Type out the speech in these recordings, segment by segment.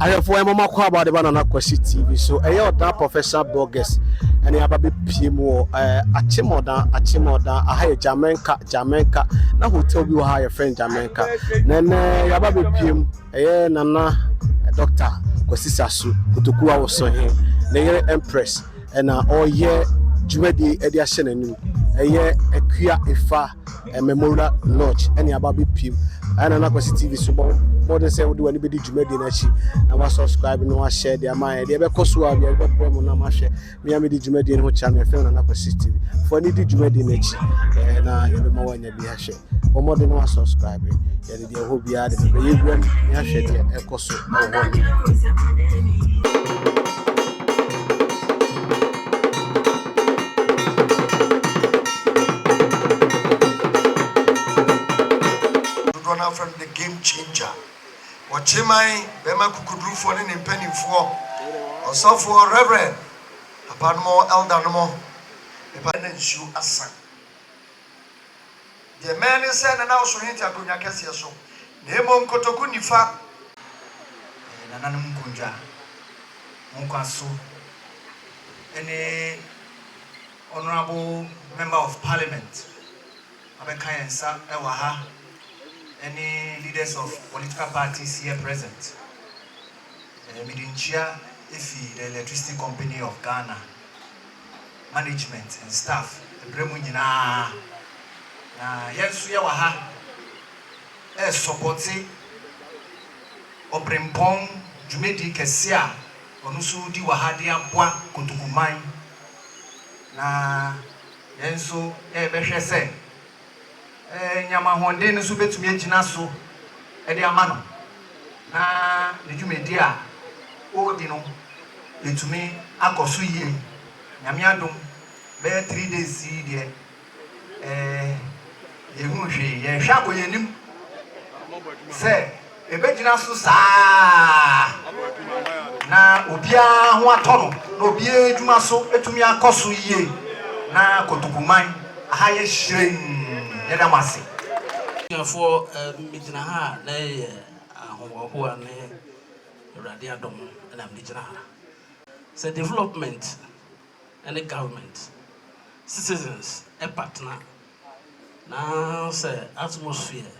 ahwɛfoɔ ɛma mo akɔ aba de ba nana kwasi tv so ɛyɛ ɔdan professional bloggers ɛne aba bɛpie mu wɔ ɛɛ akyemɔdan akyemɔdan aha yɛ jamaica jamaica na hotel bi wɔ ha yɛfrɛ no jamaica na ɛnɛ yɛaba bɛpie mu ɛyɛ nana dɔkta kwasi saso kotokuwa wɔ so he ne yere empress na ɔreyɛ dwumadie de ahyɛ n'anom. Ɛyɛ Akua Efa Memorial Lodge na yɛaba abɛpiem. Ɛyɛ Nana Kwasi TV so bɔ mmɔden sɛ wode w'ani bɛdi dwumadie no akyi na wasubscribe na wahyɛ de ama yɛn. Deɛ ɛbɛkɔ so a deɛ ɛbɛbrɛ mu na mahwɛ. Me a medi dwumadie no ho kyea me. Yɛfrɛ me Nana Kwasi TV. Fa ani di dwumadie no akyi na yɛbɛma woanya bi ahwɛ. wɔmɔde no asubscribe yɛde deɛ ɛhɔ biara de bɛbɛ yɛwura mu ne ahwɛ deɛ ɛkɔ so ɛwɔ hɔ game changer ɔkyeman bɛma kukudurufoɔ ne ne mpanimfoɔ ɔsɔfoɔ reverend papa no mo elder no mo ɛpa na nsuo asa Deɛ mmɛn ne sɛ Nana Oso hente akonnwa kɛseɛ so, na mmom kotoku nifa. Ɛyɛ nananom nkondwa, nkwa so ne Honourable Member of Parliament abɛka yɛn nsa wɔ ha ne leaders of political parties here present. Mede nkyia fi the Electricity Company of Ghana. management and staff ɛberɛ mu nyinaa na yɛn nso yɛ wɔ ha ɛresɔpɔte ɔbrempɔn dwumadie kɛseɛ a ɔno nso redi wɔ ha de aboa Kotokuman na yɛn nso yɛrebɛhwɛ sɛ. nyama ahoɔden no nso betumi agyina so de ama no, na ne dwumadi a ɔredi no atumi akɔ so yie. Nyame adom, bɛyɛ three days yi deɛ, eh, yɛhunu hwee. Yɛrehwɛ akɔ yɛn anim sɛ Ɛbɛgyina so saa na obiara ho atɔ no na obiara adwuma so atumi akɔ so yie na Kotoku man aha yɛ hyirɛnn. Yɛda mo ase. Abusuafoɔ, me gyina ha a na ɛyɛ ahohoahoa ne Awurade adom na mede gyina ha. Sɛ development ne government, citizens partner na sɛ atmosphere.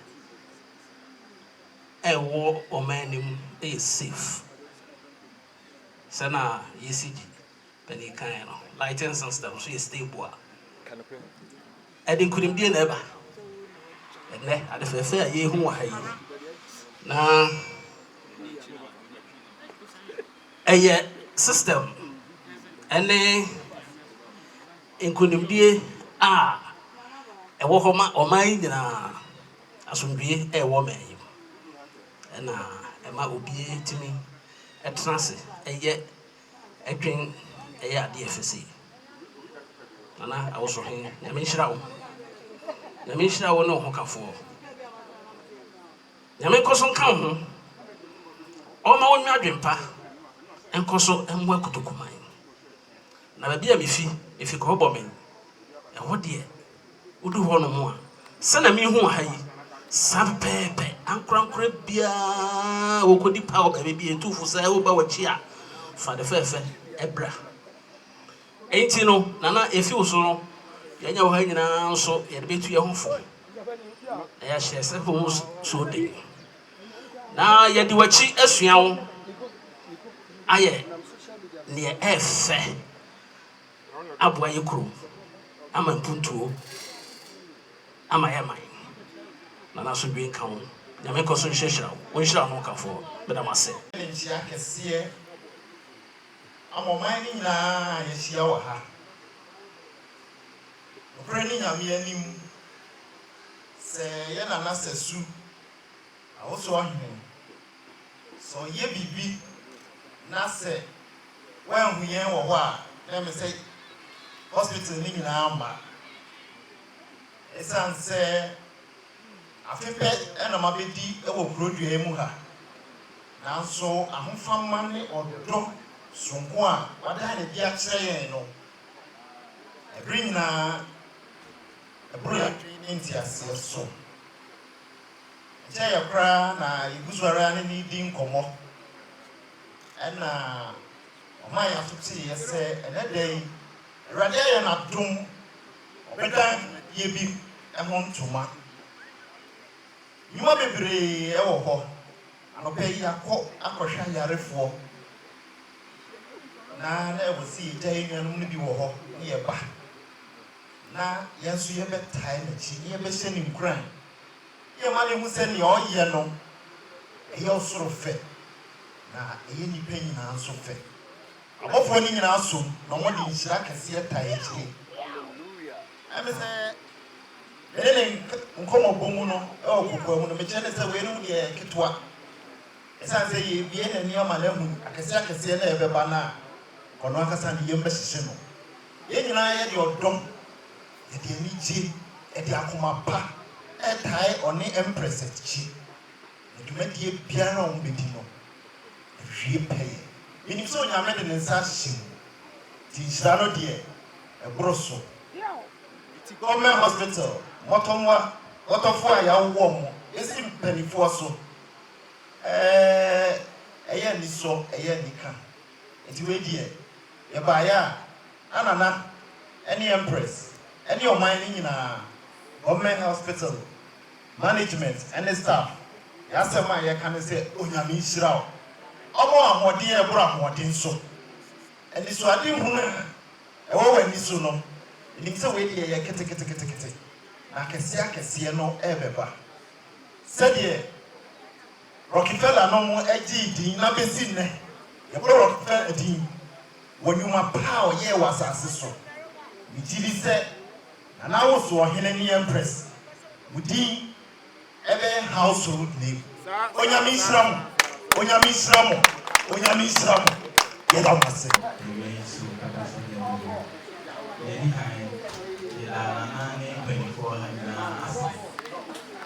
ɛwɔ ɔman no mu yɛ safe sɛna yɛsi gye panin kan no lighting system nso yɛ stable a ɛde nkunimdie na ɛba ɛnɛ ade fɛfɛ a yɛhu wɔ ha yi na ɛyɛ system ɛne nkunimdie a ɛwɔ hɔ ma ɔman yi nyinaa Asomdwoeɛ rewɔ mmɛn yi mu. Ɛna ɛma obiara tumi tena ase yɛ dwen yɛ adeɛ fɛ sei. Nana Awosohe, Nyame nhyira wo. Nyame nhyira wo ne wo hokafoɔ. Nyame nkɔ so nka wo ho. Ɔma wo nwa adwempa. Nkɔ so mmoa kotokuman. Na baabi a mefi, mefi Kɔhɔbɔmen. Ɛhɔ deɛ Wodu hɔ nom a, sɛnea mehu wɔ ha yi, saa pɛpɛɛpɛ, ankorankora biara, wɔkɔdi pa wɔ baabi bi, ɛtu fo sɛ woba w'akyi a, fa de fɛɛfɛ bra. Enti no, Nana, ɛfi wo so no, yɛanya wɔ ha nyinaa nso, yɛde bɛtu yɛn ho fo, na yɛahyɛ sɛ ho so den, na yɛde w'akyi asua wo ayɛ neɛ ɛfɛ. aboa yɛn kurom ama mpuntuo ama yɛn man. Nana asomdwoe nka wo. Nyame nkɔ so nhyirahyira wo. Wo nhyira no kafoɔ. Meda mo ase. Ne nkyea kɛseɛ ama ɔman no nyinaa a yɛahyia wɔ ha. Nokorɛ ne Nyame anim, sɛ yɛ Nana Sɛsu, Awosoɔ Hene, Sɛ ɔyɛ biribi na sɛ wanhu yɛn wɔ hɔ a, na ɛmɛ sɛ hospital no nyinaa mma. Ɛsiane sɛ afe pɛ na mabɛdi wɔ kurodua yi mu ha, nanso ahofama ne ɔdɔ soronko a wada no adi akyerɛ yɛn no, ɛbere nyinaa ɛboro yɛn adwene ne nteaseɛ so. Ɛkyɛɛ yɛ koraa na yɛgu so ara ne no redi nkɔmmɔ. Ɛnna ɔmaa yɛn aso teeɛ sɛ ɛnnɛ da yi Awurade ayɛ no adom, ɔbɛdan yɛn bi ho ntoma. Nnwuma bebree wɔ hɔ. Anɔpa yi yɛakɔ akɔhwɛ ayarefoɔ, na na ɛwɔ sɛ yɛgya yɛn nuanom no bi wɔ hɔ na yɛba. Na yɛn nso yɛbɛtae n'akyi na yɛbɛhyɛ no nkuran. Yɛ ma no hu sɛ nea ɔyɛ no, ɛyɛ ɔsoro fɛ, na ɛyɛ nnipa nyinaa nso fɛ. Abɔfoɔ no nyinaa som, na wɔde nhyira kɛseɛ tae akyire. Ɛne sɛ, me ne ne nkɔmmɔbɔ mu no wɔ kokoa mu no, mekyerɛ no sɛ weinom deɛ yɛ nketewa, ɛsiane sɛ yɛrebue n'ani ama no ahunu akɛseɛ akɛseɛ no a ɛbɛba no a, ɔno ankasa ne yam bɛhyehye no. Yɛn nyinaa yɛde ɔdɔ, yɛde anigye, yɛde akoma pa retae ɔne Empress Adjei na dwumadie biara a wɔbɛdi no awie pɛyɛ. Menim sɛ Onyame de ne nsa ahyɛ mu nti nhyira no deɛ ɛboro so. Ɛti Government Hospital, mmɔtɔmmoa, dɔtɔfoɔ a yɛawo wɔn bɛsi mpaninfoɔ so, ɛɛ ɛyɛ anisɔ, ɛyɛ anika. Nti wei deɛ yɛbaeɛ a na Nana ne Empress ne ɔman no nyinaa, Government Hospital management ne staff, yɛn asɛm a yɛka ne sɛ Onyame nhyira wo. Ɔmɔ ahoɔden a ɛboro ahoɔden so. Anisoade hunu a ɛwɔ w'ani so no, menim sɛ wei deɛ yɛ keteketekete na akɛseɛ akɛseɛ no rebɛba. Sɛdeɛ. Rockefellernom gyee din na besi nnɛ yɛbɔ Rockefeller din wɔ nnwuma pa a ɔyɛe wɔ asase so. Migye di sɛ na n'awosu ɔhene ne empress mu din bɛyɛ household name. Onyame nhyira mo, Onyame nhyira mo, Onyame nhyira mo, yɛda mo ase. Awiei nso ɛba sɛ nna du hɔ. Nea edi kan, yɛda Nana ne mpanyimfo wɔ ha nyinaa ase.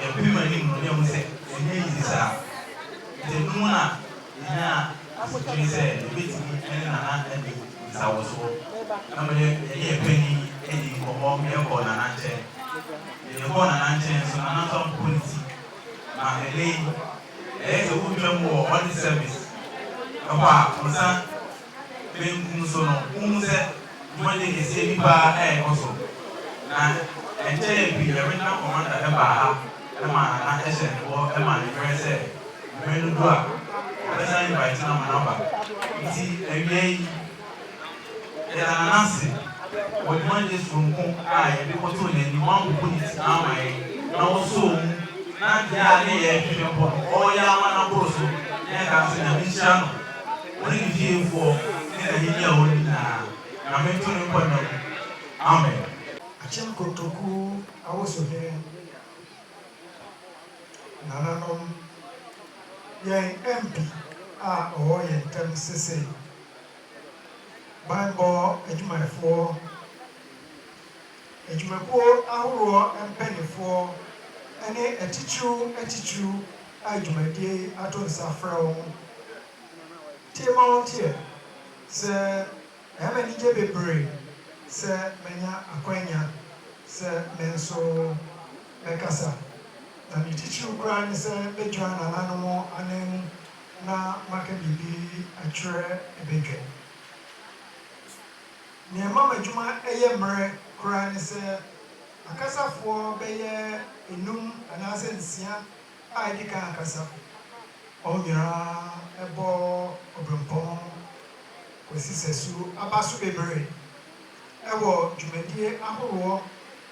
Yɛpem anim no, yɛhu sɛ ɛnyɛ easy saa. Enti ɛno mu na yɛnyaa asotwe sɛ yɛbɛtumi ne Nana adi nsawosoɔ. Na mede yɛne yɛn panin dii nkɔmmɔ ma yɛkɔɔ Nana nkyɛn. Mede kɔɔ Nana nkyɛn nso, Nana nso ampopo ne ti. Na ɛnnɛ yi, ɛyɛ sɛ wotwa mu wɔ Audit Service hɔ a, wo nsa. benkum so no, wohu sɛ dwumadi kɛseɛ bi paa rekɔ so. Na ɛnkyɛeɛ pii no, Reginald Commander baa ha maa Nana hyɛɛ ne bɔ maa ne berɛ sɛ berɛ no du a, ɔbɛsan invite no ama no aba. Nti awiei yi, yɛda Nana ase wɔ dwumadie sononko a yɛde kɔtoo n'anim, wampopo ne ti amma yɛn, na ɔsɔɔ mu, na deɛ a ne yɛrehwehwɛ mpo no, ɔreyɛ ama no aboro so, na yɛka no sɛ Nyame nhyira no. Wo ne ne fiefoɔ ne n'ahennie a ɔnni nyinaa, Nyame nto ne nkwa nna mu. Amen. Akyem Kotoku Awosohene Nananom, Yɛn MP a ɔwɔ yɛn ntam sesei, Banbɔ Adwumayɛfoɔ, Adwumakuo ahoroɔ mpaninfoɔ ne atitiriw atitiriw a dwumadie yi ato nsa frɛ wɔn, Tie ma wonteɛ sɛ ɛyɛ me anigye bebree sɛ manya akwanya sɛ me nso mɛkasa, na ne titiriw koraa ne sɛ mɛgyina nananom anan mu na maka biribi akyerɛ badwa mu. Nea ɛma m'adwuma yɛ mmerɛ koraa ne sɛ akasafoɔ bɛyɛ nnum anaasɛ nsia a edi kan akasa mu. Wɔn nyinaa bɔ obirɛmpɔn kosi sɛ su aba so bebree wɔ dwumadi ahoroɔ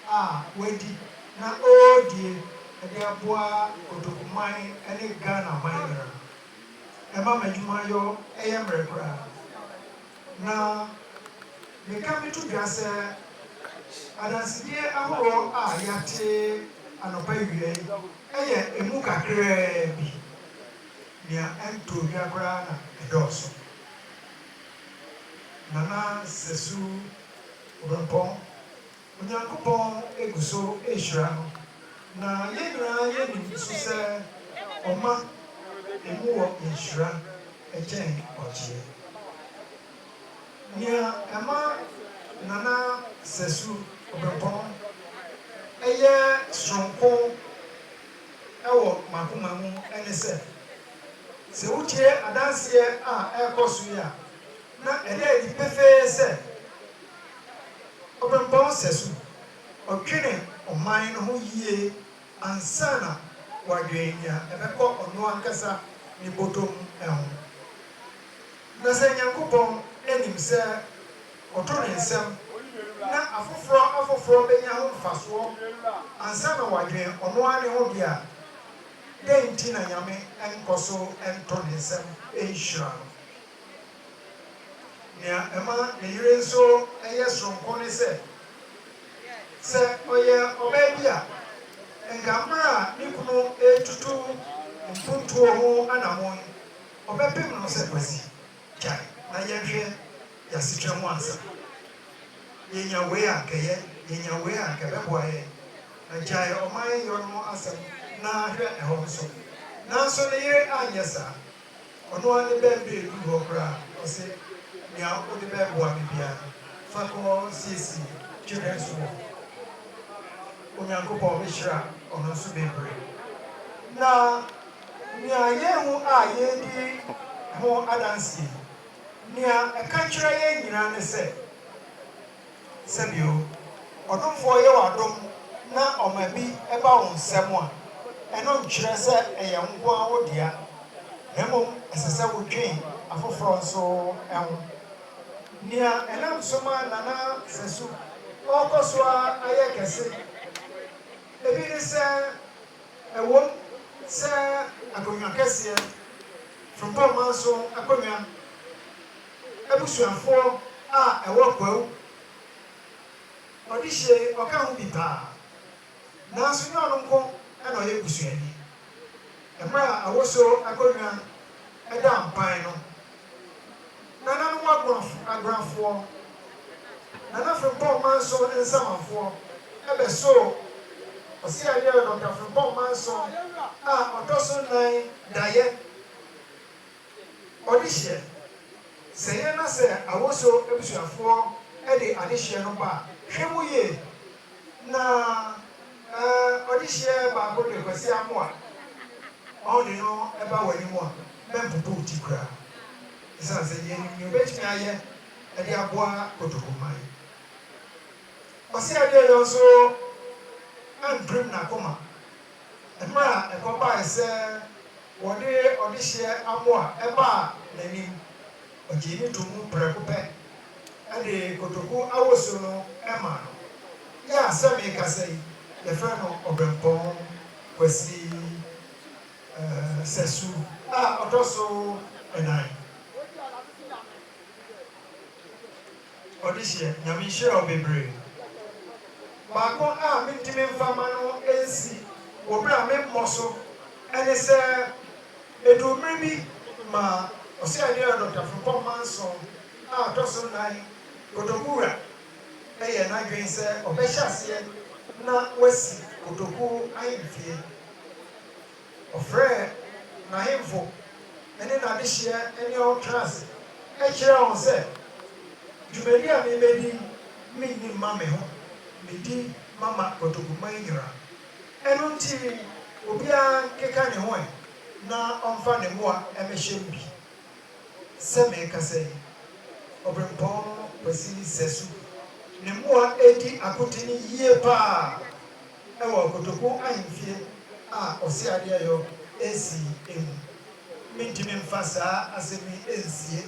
a wɔadi na ɔredie de aboa Kotoku man ne Ghana man nyinaa. Ɛma m'adwuma yɔ yɛ mmerɛ koraa. Na meka meto dwa sɛ adansedie ahoroɔ a yɛate anɔpa awia yi yɛ ɛmu kakraa bi. Nea ɛntoo dwa koraa na ɛdɔɔso. Nana Sɛsu Obempɔn Onyankopɔn gu so rehyira no, na yɛn nyinaa yɛnim nso sɛ ɔma emu wɔ nhyira kyɛn ɔgyeɛ. Nea ɛma Nana Sɛsu Obempɔn yɛ sononko wɔ m'akoma mu ne sɛ, sɛ wotie adanseɛ a ɛrekɔ so yi a, na ɛda adi pefee sɛ, Ɔbɛbɔ sɛso, ɔdwene ɔman no ho yie ansa na wadwene nea ɛbɛkɔ ɔno ankasa ne bɔtɔ mu ho. Na sɛ Nyankopɔn nim sɛ ɔto ne nsam na afoforɔ afoforɔ bɛnya ho mfasoɔ ansa na wadwene ɔno ara ne ho deɛ a, dɛn nti na Nyame nkɔ so nto ne nsam nhyira no? Nea ɛma ne yere nso yɛ soronko ne sɛ, sɛ ɔyɛ ɔbaa bi a, anka mmere a ne kunu retutu mpontuo ho anammɔn yi, ɔbɛpem no sɛ, Kwasi, gyae na yɛnhwɛ yɛn asetra mu ansa. Yɛnya wei a, anka ɛyɛ, yɛnya wei a, anka ɛbɛboa yɛn. Na gyae ɔman yɔ no ho asɛm na hwɛ ɛhɔ nso. Nanso ne yere anyɛ saa. Ɔno ara ne bɛ mberɛ eduru hɔ koraa ɔse nea wode bɛ boa me biara fa kɔ siesie twe bɛ nso wɔ Onyankopɔn me hyira ɔno nso bebere. Na nea yɛhu a yɛredi ho adanseɛ yi nea ɛka kyerɛ yɛn nyinaa ne sɛ, Sɛ bio, ɔdomfoɔ yɛ wo adom na ɔma bi ba wo nsam a, ɛno nkyerɛ sɛ ɛyɛ wo nko ara wo dea, na mmom ɛsɛ sɛ wodwen afoforɔ nso ho. Nea ɛnam so ma Nana Sasu ɔrekɔ so ara ayɛ kɛse bi ne sɛ, ɛwom sɛ akonnwa kɛseɛ, Frimpong manso akonnwa, Abusuafoɔ a ɛwɔ Kwawu, Ɔdehyee ɔka ho bi paa. Nanso nyɛ ɔno nko na ɔyɛ busuani. Mmerɛ a Awosuo akonnwa daa mpan no, Nananom Agoafo, Agorafoɔ, Nana Frimpong Manso Nsamanfoɔ bɛsoo Ɔseadeɛ Dɔkta Frimpong Manso a ɔtɔ so nnan daeɛ Ɔdehyeɛ, Sɛ yɛn na sɛ Awosuo abusuafoɔ de adehyeɛ no ba a, hwɛ mu yie na eh, ɔdehyeɛ baako de Kwasi Amoah ma wode no ba w'anim a, mɛmpopo wo ti koraa ɛsiane sɛ yɛnim nea ɔbɛtumi ayɛ de aboa Kotoku man. Ɔseadeɛyɔ nso ampirim n'akoma. Mmerɛ a ɛkɔbaae sɛ wɔde ɔdehyeɛ amoa baa n'anim, ɔgyee no too mu prɛko pɛ, de kotoku awosuo no maa no. Yɛ a sɛ merekasa yi, yɛfrɛ no Ɔbɛmpɔn Kwasi Sɛsu a ɔtɔ so nnan. Ɔdehyeɛ, Nyame nhyira wo bebree. Baako a mentumi mfa mma no nsi wɔ berɛ a memmɔ so ne sɛ, ɛduu mmerɛ bi ma Ɔsɛeɛdea Dɔkta Frimpong Manson a ɔtɔ so nnan, Kotoku Wura, yɛɛ n'adwene sɛ ɔbɛhyɛ aseɛ na wasi Kotoku ahemfie. Ɔfrɛɛ n'ahemfo ne n'adehyeɛ ne wɔn traa ase kyerɛɛ wɔn sɛ, Dwumadi a mebɛdi yi, menni mma me ho, medi ma ma Kotoku man nyinaa. Ɛno nti, obiara nkeka ne ho ɛ na ɔmfa ne mmoa mmɛhyɛ mu bi. Sɛ merekasa yi, Obirɛmpɔn Kwasi Sɛsu ne mmoa redi akoten yie pa ara. wɔ Kotoko ahemfie a ɔse adeɛ yɔ ɛsi mu. Mentumi mfa saa asɛm yi nsie.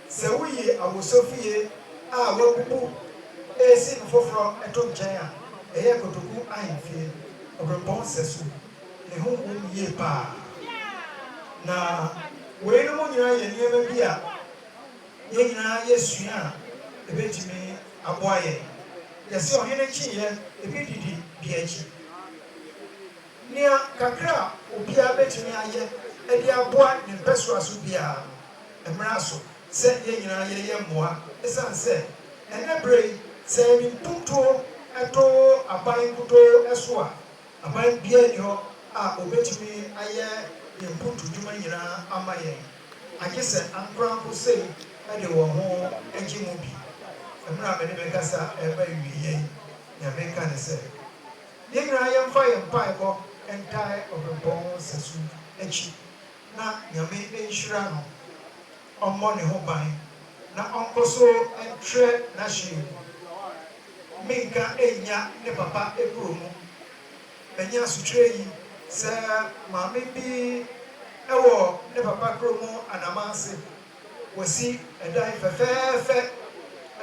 Sɛ woyi awosɔfie a wɔabubu ɛresi no foforɔ to nkyɛn a, ɛyɛ Kotoku ahemfie, Obirɛmpɔn sɛso. Ne ho wɔ mu yie pa ara. Na weinom nyinaa yɛ nneɛma bi a yɛn nyinaa yɛsua a ɛbɛtumi. Aboa yɛn. Yɛse ɔhene kyeeyɛ ebi didi bi akyi. Nea kakra a obiara betumi ayɛ de aboa ne mpɛsoa so biara no, mmra so sɛ yɛn nyinaa yɛyɛ mmoa esiane sɛ ɛnnɛ bere yi sɛ yɛde mpuntuo to aban nkutoo so a, aban biara nni hɔ a obetumi ayɛ yɛn mpuntudwuma nyinaa ama yɛn. agye sɛ ankorankoro sei de wɔn ho gye mu bi. Mmerɛ a me ne me kasa reba awieɛ yi, deɛ mereka ne sɛ, yɛn nyinaa yɛmfa yɛn mpaebɔ ntae ɔbempɔn sɛso akyi na Nyame nhyira no, ɔmmɔ ne ho ban na ɔnkɔ so ntrɛ n'ahyeɛ mu. Menka nnya ne papa kuro mu. Manya asotwerɛ yi sɛ maame bi wɔ ne papa kuro mu Anamase. Wɔsi dan fɛfɛɛfɛ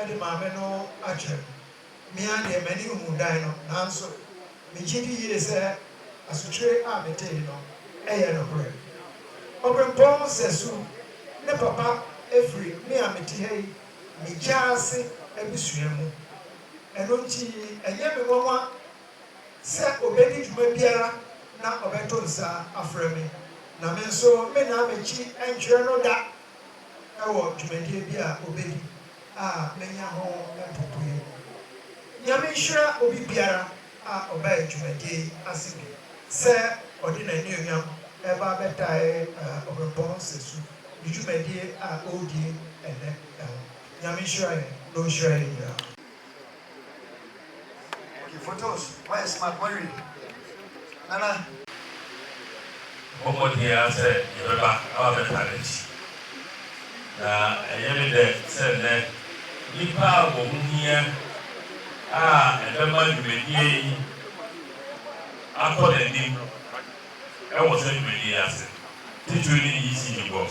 de maame no akyerɛ me. Me ara deɛ m'ani nhuu dan no, nanso megye di yie sɛ asotwerɛ a metee no yɛ nokorɛ. Ɔberempɔn Sɛsu, ne papa firi me a mete ha yi me gyaase abusua mu. Ɛno nti ɛnyɛ me nwanwa sɛ obedi dwuma biara na ɔbɛto nsa afrɛ me, na me nso mennan m'akyi nkyerɛ no da wɔ dwumadie bi a obedi a manya ho mpopoeɛ mu. Nyame nhyira obi biara a ɔbaa dwumadie yi ase bi sɛ ɔde n'anuonyam reba abɛtae Ɔberempɔn Nsasu ne dwumadie a ɔredie ɛnnɛ ho. Nyame nhyira yɛn na ɔnhyira yɛn nyinaa. Bɔ mmɔden ara sɛ yɛbɛba na wɔabɛtaa n'akyi. Na ɛyɛ me dɛ sɛ nnɛ nnipa a wɔn ho hia a ɛbɛma dwumadie yi akɔ n'anim wɔ saa dwumadie yi ase, titire ne ECD box.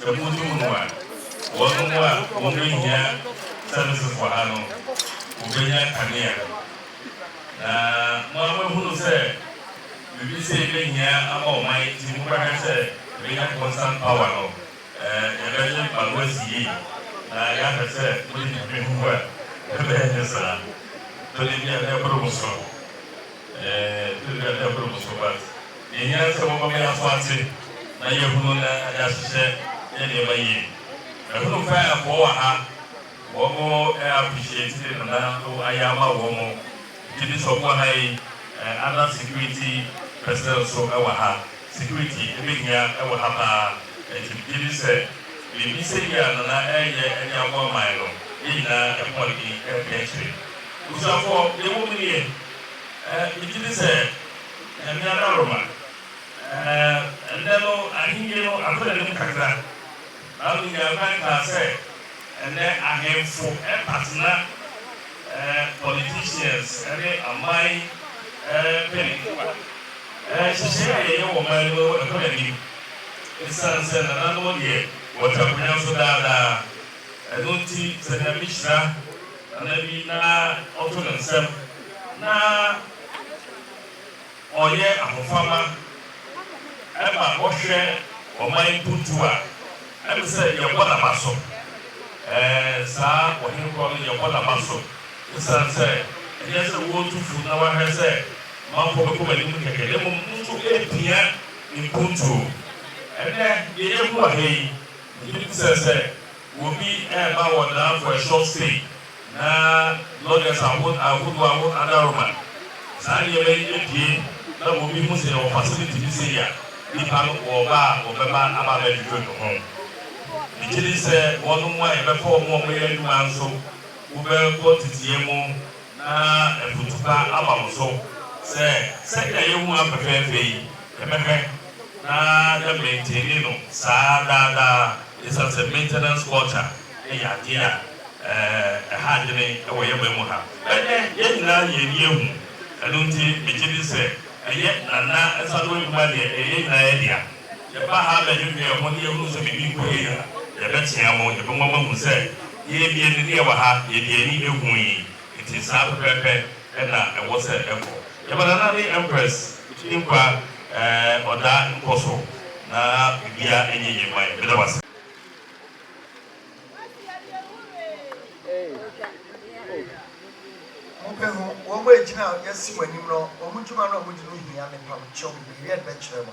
Sɛ modum no a, wɔnom a wɔrenhia sɛmesefo ha no, wɔbɛnya kanea. Na mo ara moahunu sɛ biribi sei bɛhia ama ɔman nti mobɛhwɛ sɛ yɛbɛnya constant power no, yɛbɛgye ma no asi yie, na yɛahwɛ sɛ mode biribi huhu a, ɛbɛyɛ ne saa. Tɔ da bi a, na ɛboro mo so. Ɛɛ, ɛɛ, ɛboro mo so but deɛ hia ne sɛ wɔma me aso ate na yɛahunu na de ahyehyɛ yɛ nneɛma yie. Mahunu fayafoɔ wɔ ha, wɔn ɛɛ appreciate Nana wo ayɛ ama wɔn, gyedi sɛ wɔwɔ ha yi, ɛɛ, other security personnel nso wɔ ha, security ɛbɛhia wɔ ha paa, ɛnti megyedi sɛ biribi sɛ yi a Nana ɛɛyɛ de aboa man no, yɛn nyinaa ɛho ɔden ɛɛpɛ akyire. Abusuafoɔ, deɛ ɛwɔ mu nie. Eh, megye di sɛ Nyame adaworoma. Eh, ɛnnɛ no Ahenni no atɔ n'anim kakra. Bible nyaa kwan kaa sɛ ɛnnɛ ahemfo pa tena eh, politicians ne aman eh, mpanyinfo a. Eh, nhyehyɛe a yɛyɛ wɔ ɔman no mu no ɛkɔ n'anim. Esiane sɛ nananom deɛ wɔte akonnwa so daa daa, ɛno nti sɛ Nyame hyira. Nana bi na ɔto ne nsam na ɔyɛ ahofama ma ɔhwɛ ɔman mpuntuo a, ɛne sɛ yɛbɔ n'aba so. Ɛɛ, saa ɔhene korɔ no, yɛbɔ n'aba so esiane sɛ ɛnyɛ sɛ wɔretu fo na wɔahwɛ sɛ manfoɔ bɛkɔ m'anim kɛkɛ, na mmom no nso ɛrepia mpuntuo. Ɛnnɛ, deɛ yɛahu wɔ ha yi, megye di sɛ sɛ Obi reba wɔ Danfo ɛsɔp sei na lɔgɛs ahod ahodoɔ ahod adaroma saa nneɛma yi apue na obi hu sɛ yɛwɔ fasiliti bi sei a, nnipa no wɔba a wɔbɛba aba abɛdwedwe no ho. Megye di sɛ wɔnom a yɛbɛfa wɔn a wɔyɛ adwuma nso wobɛkɔ teteyɛ mu. Na afutupa aba mo so sɛ, Sɛnea yɛn ho ayɛ fɛfɛɛfɛ yi, yɛbɛhwɛ na yɛamaintani no saa daa daa, esiane sɛ maintenance culture yɛ adeɛ a ɛha adwene wɔ yɛn man mu ha. Ɛnnɛ, yɛn nyinaa yɛn ani ahu, ɛno nti megye di sɛ ɛyɛ Nana nsa ano adwuma deɛ, ɛyɛ yɛn nyinaa yɛn dea. Yɛba ha abɛdwendwen yɛn ho na yɛhunu sɛ biribi nkɔ yie a, yɛbɛtea mu, yɛbɛma moahu sɛ yɛn deɛ ne deɛ ɛwɔ ha, yɛde yɛn ani ahu yi. Enti saa pɛpɛɛpɛ na ɛwɔ sɛ ɛkɔ. Yɛba Nana ne Empress nkwa eh, ɔdaa nkɔ so na biribiara nyɛ yie mma yɛn. Meda mo ase. Mobɛhu wɔn a ɛgyina a yɛasi wɔn anim no, wɔn dwuma no a wɔdi no hia me, pam kyɛw, mede me yɛde bɛkyerɛ mo.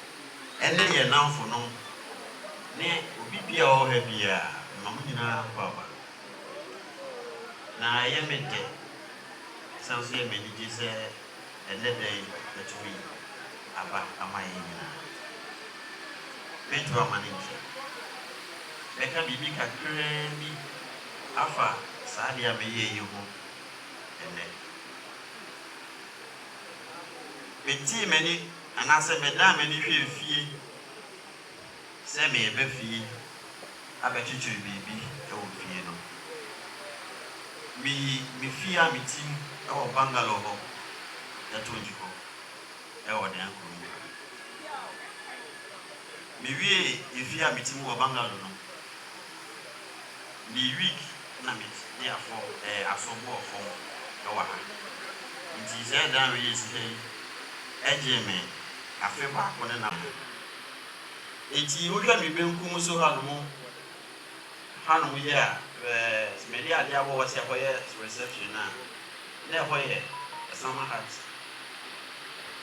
ɛne yɛn nnamfonom, ne obi biara a ɔwɔ ha biara, mema mo nyinaa nkwa aba. Na ɛyɛ me dɛ, ɛsan nso yɛ me anigye sɛ ɛnnɛ da yi matumi aba ama yɛn nyinaa. Mento amanne nkyerɛ. Mɛka biribi kakraa bi afa saa ade a meyɛe yi ho ɛnnɛ. Metee m'ani. Anaasɛ medan m'ani hwɛ efie sɛ mereba fie abɛkyekyere biribi wɔ fie no. Miyi me fie a mete mu wɔ bungalow hɔ to gye hɔ wɔ Dan kurom ha. Miwiee efie a mete mu wɔ bungalow no. Me week na me de afɔ ɛɛ asɔ bo wɔ fɔm ɛwɔ ha nti sɛ ɛdan wei yɛ sika yi ɛgyee me afe baako ne na mo nti mo hwɛ me benkum so ha nom ha nom yɛ a ɛɛ me de adeɛ abɔ hɔ sɛ ɛhɔ yɛ reception a. Na ɛhɔ yɛ Sama Hat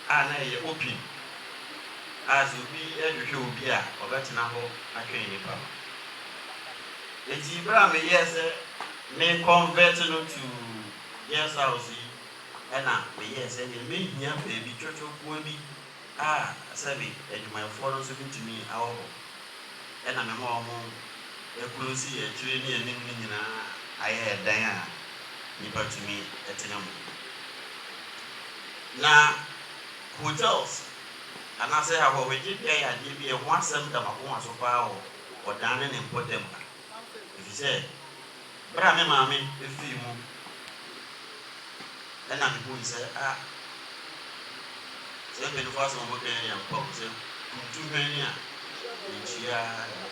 a na ɛyɛ open a sɛ obi hwehwɛ obi a ɔbɛtena hɔ atwɛn nipa no. Enti bere a meyɛɛ sɛ me convert no to guest house yi na meyɛɛ sɛdeɛ mehia baabi twɔtwɔkoa bi a sɛbe adwumayɛfoɔ no nso bɛtumi awɔ hɔ, ɛna mema wɔn ɛkulosii akyire ne anim no nyina ara ayɛ ɛdan a nnipa tumi tena mu. Na hotels anaasɛ ahɔhogye bea yɛ adeɛ bi a ɛho asɛm da m'akoma so pa ara wɔ ɔdan ne ne mpɔtam ha. Efisɛ bere a me maame fii mu na mihui sɛ, ah, saa mpanyimfo asɛm a wɔka yi yɛ ampa o, sɛ kuntu hwɛn a entua ara de.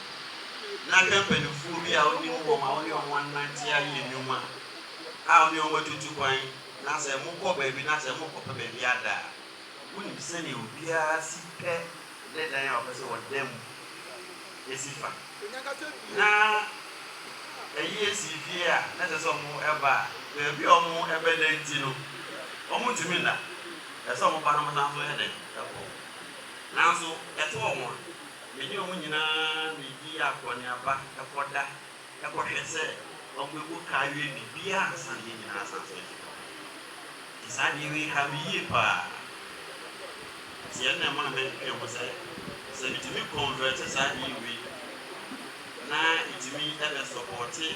Na hwɛ mpanyimfo bi a wonim wɔn a wo ne wɔn anante ayɛ nnwuma a wo ne wɔn atutu kwan na sɛ mokɔ baabi na sɛ morekɔpɛ baabi ada a, wunim sɛnea obiara si pɛ ne dan a ɔpɛ sɛ ɔda mu si fa. Na ayie sii fie a na ɛsɛ sɛ wɔba a, baabi a wɔbɛda nti no, wɔntumi nna. Ɛsɛ sɛ wɔba na wɔsan nso yɛ dɛn? Kɔ. Nanso ɛte wɔn a, me ne wɔn nyinaa bedi akɔneaba kɔda kɔhwɛ sɛ wɔbɛbu ka awie biribiara ansa na yɛn nyinaa asan nso afi hɔ. Saa adeɛ wei ha me yie paa. Nti ɛnna ɛmaa mɛdwendwene ho sɛ, sɛ metumi kɔnvɛɛte saa adeɛ wei na ɛtumi bɛsɔpɔɔte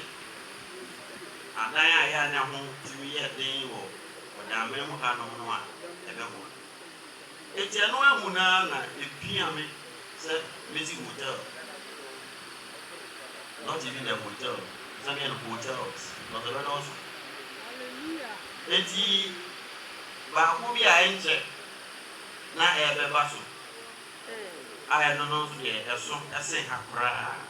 adan a ɛyɛ a na ɛho tumi yɛ den wɔ Ɔdaamena mu hanom no a, ɛbɛboa. Enti ɛno ahu no ara na epia me sɛ mɛsi hotel, not even a hotel, sɛdeɛ no hotels, but ɛbɛdɔɔso. Enti baako bi a ɛnkyɛ na ɛrebɛba so a ɛno no nso deɛ ɛso sen ha koraa.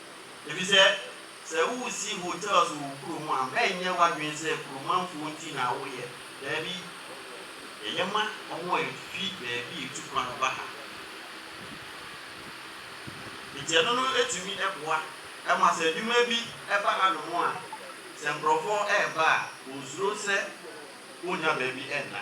Efisɛ sɛ woresi hotels wɔ wo kurom a, mɛnyɛ w'adwene sɛ kuromamfo nti na woreyɛ. Dabi, ɛyɛ ma wɔn a efi baabi retu kwan ba ha. Enti ɛno no tumi boa ma sɛ adwuma bi ba hanom a, sɛ nkurɔfo reba a, wonsuro sɛ wonnya baabi nna.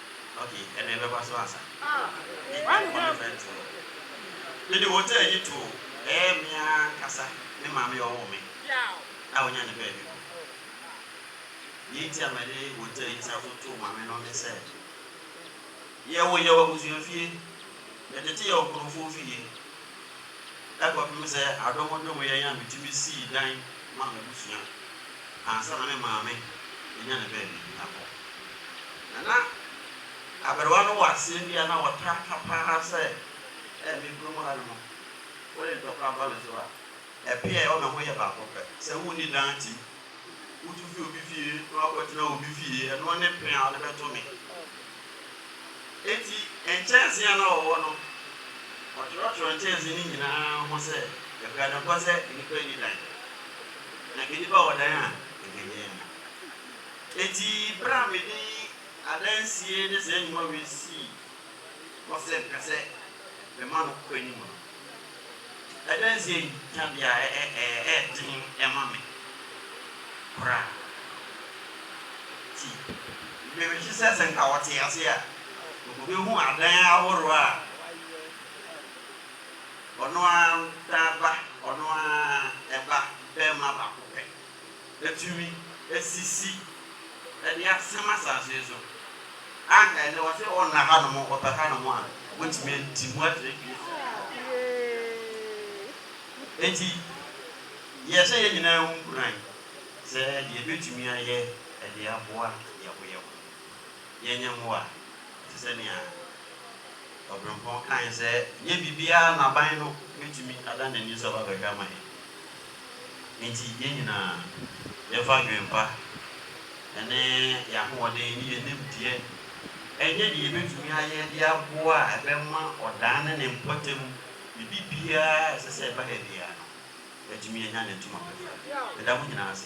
Okay, ɛnna ɛbɛba so ansa. Yi ɛnkɔ ne fɛn to no. Mede hotel yi too ɛɛ me ara ankasa me maame a ɔwoo me a ɔnya ne baabi kɔ. Nea enti a mede hotel yi san so too maame no ne sɛ, yɛwo yɛn wɔ abusuafie, yɛtete yɛn wɔ nkurɔfoɔ fie. kɔpem sɛ adomodomeɛ yi a metumi sii dan maa m'abusua ansa na me maame bɛnya ne baabi akɔ. Na na aberewa no wɔ aseɛ bi a na ɔtaa ka pa ara sɛ, Ɛɛ, me kurom ha no mu, wode ntɔkwa ba me so a, ɛpeɛ a ɛwɔ me ho yɛ baako pɛ, sɛ wonni dan tim Wutu fi obi fie na woakɔtena obi fie, ɛno ne pene a wode bɛto me? Enti nkyɛnsee a na wɔwɔ no, wɔtwerɛtwerɛɛ nkyɛnsee no nyinaa ho sɛ ɛbra no nkɔ sɛ nnipa nni dan. Na anka nnipa wɔ dan a, anka ɛnyɛ yɛn na. Enti berɛ a mede adansie ne saa nnwuma wei sii hɔ sɛ mepɛ sɛ mema no kɔ anim no, Adansie yi ka bia ɛyɛ den ma me koraa nti me wish sɛ sɛ nka wɔte ase a wɔbɛhu adan ahoroɔ a ɔno ara da ba ɔno ara ba bɛɛma baako pɛ. atumi asisi de asɛm asase yi so. Anka ɛnnɛ wɔse wɔnna hanom, wɔpɛ hanom a, wɔatumi adi mu akyerɛ Kristo. Enti yɛhyɛ yɛn nyinaa ho nkuran sɛ deɛ yɛbɛtumi ayɛ de aboa yɛn ho yɛn ho, yɛnyɛ mmoa. Te sɛ nea Ɔberempɔn kaeɛ sɛ, Ɛnyɛ biribiara na aban no bɛtumi ada n'ani so aba abɛhwɛ ama yɛn. Enti yɛn nyinaa, yɛmfa adwempa ne yɛn ahoɔden ne yɛn nimdeɛ nyɛ deɛ yɛbɛtumi ayɛ de aboa a ɛbɛma ɔdaa ne ne mpɔtam biribiara a ɛsɛ sɛ ɛba ha biara no, yɛatumi anya ne ntoma pɛfɛ. Meda mo nyinaa ase.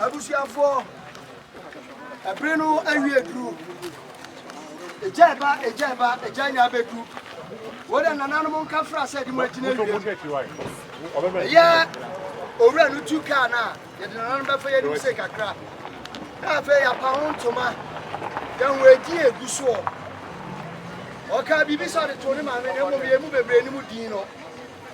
Abusuafoɔ, ɛbere no awie aduru. Egya ɛba, egya ɛba, egya nya abɛdu. Wode nananom nka fra sɛ de mo agyina awiem. Ɛyɛ owura no tu kaa no a, yɛde nananom bɛfa yɛnim se kakra. Na afei yɛapa ho ntoma, yɛho adi egu soɔ. Ɔka biribi sɛ ɔde too ne maame na mmom yɛn mu bebree ne mu din no.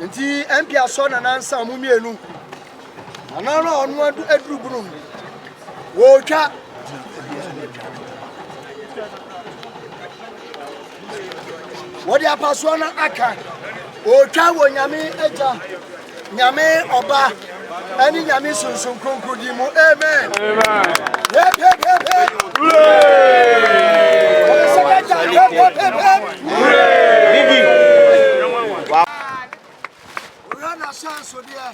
Nti ɛmpi asɔ na nansa ɔmo mmienu anaa no a ɔno aduru bunu mu wɔretwa wɔde apasoɔ no aka wɔretwa wɔ nyame agya nyame ɔba ɛne Nyame Sunsum Kronkron din mu, amen. Wura na hyɛ nsodeɛ.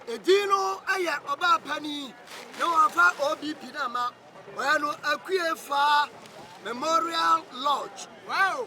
Edin no yɛ ɔbaa panin na wɔfa OBP no ama ɔyɛ no Akue Faa Memorial Lodge. Wow!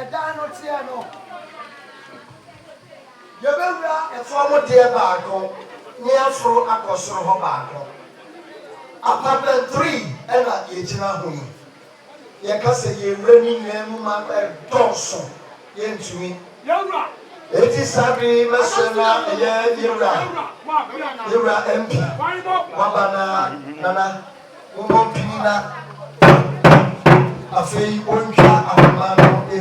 ɛdan no teɛ no yɛbɛwura ɛfam deɛ baako ne aforo akɔ soro hɔ baako apartment three ɛna yɛgyina ho yi Yɛka sɛ yɛn wura no nyinaa mu ma ɛdɔɔso, yɛntumi. Enti saa bere yi mɛsrɛ na ɛyɛ yɛn wura, yɛn wura MP, waba na nana mommɔ mpini na afei wɔntwa ahoma no mu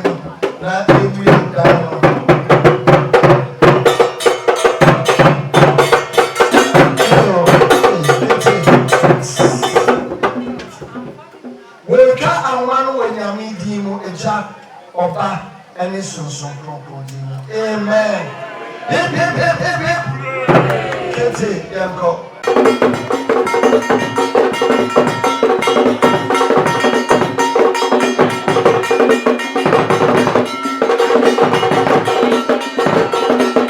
na yɛnwie dan no. Wɔretwa ahoma no wɔ Nyame din mu, Agya, Ɔba, ne Sonson Kronkron din mu, amen. Hip, hip, hip, hip, hip. Kente, yɛnkɔ.